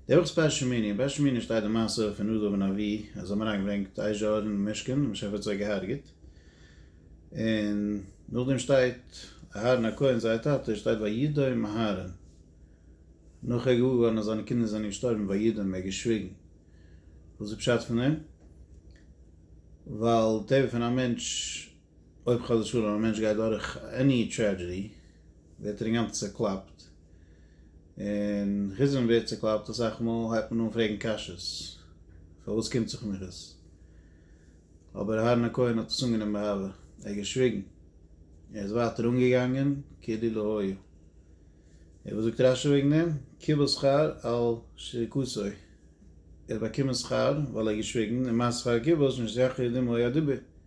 דער וואס בעש שמיני, אין בעש שמיני שטייט די מעשה פון נדב און אבי' אז זיי האבן אריין געברענגט אש זשאור אין משכן און משהפער האט זיי געהארגעט, און נאכדעם שטייט אהרן הכהן זייער טאטע שטייט וידום אהרן נאך ער איז געוואר געווארן אז זיינע קינדער זענען געשטארבן וידום ער האט געשוויגן, וואס איז פשט פון דעם? ווייל טבע פון א מענטש. אויב חס ושלום א מענטש גייט דורך עני טרעדזשעדי ווערט ער אינגאנצן צוקלאפט, און חוץ ווען מ'ווערט צוקלאפט אסאך מאל הייבט מען אן פרעגן קשיא'ס, פארוואס קומט זיך מיך עס? אבער אהרן הכהן האט עס אנגענומען באהבה, ער האט געשוויגן, ער איז ווייטער אנגעגאנגען כאילו לא היה. און וואס זאגט רשי וועגן דעם? קיבל שכר על שריקותו, ער האט באקומען שכר ווייל ער האט געשוויגן, און מה שכר הכיבוש משא כ דמא היה דיבור.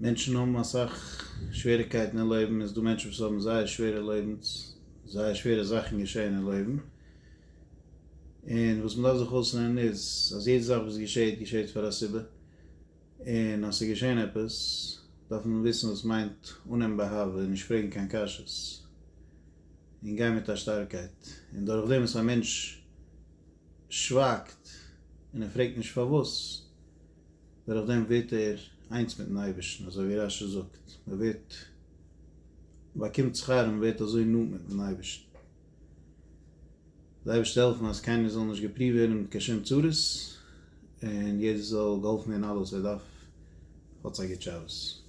מענטשן האבן אסאך שוועריקייטן אין לעבן, איז דא מענטשן וואס האבן זייער שווערע לעבנס, זייער שווערע זאכן געשעהן אין לעבן, און וואס מען דארף זיך אויסלערנען איז, אז יעדע זאך וואס געשעהט, געשעהט פאר א סיבה, און אז ס'איז געשעהן עפעס, דארף מען וויסן וואס מיינט אננעמען באהבה, און נישט פרעגן קיין קשיות, און גיין מיט א שטארקייט, און דורך דעם וואס א מענטש שווייגט, און ער פרעגט נישט פארוואס, דורך דעם ווערט ער איינס מיטן אייבערשטן, אזוי ווי רש י זאגט, מען ווערט באקומט שכר און מען ווערט אזוי נאנט מיטן אייבערשטן. די אייבערשטער העלפן אז קיינער זאל נישט געפריווט ווערן מיט קיין שום צרות, און יעדער זאל געהאלפן ווערן אלעס וואס ער דארף, האטס א גוט שבת.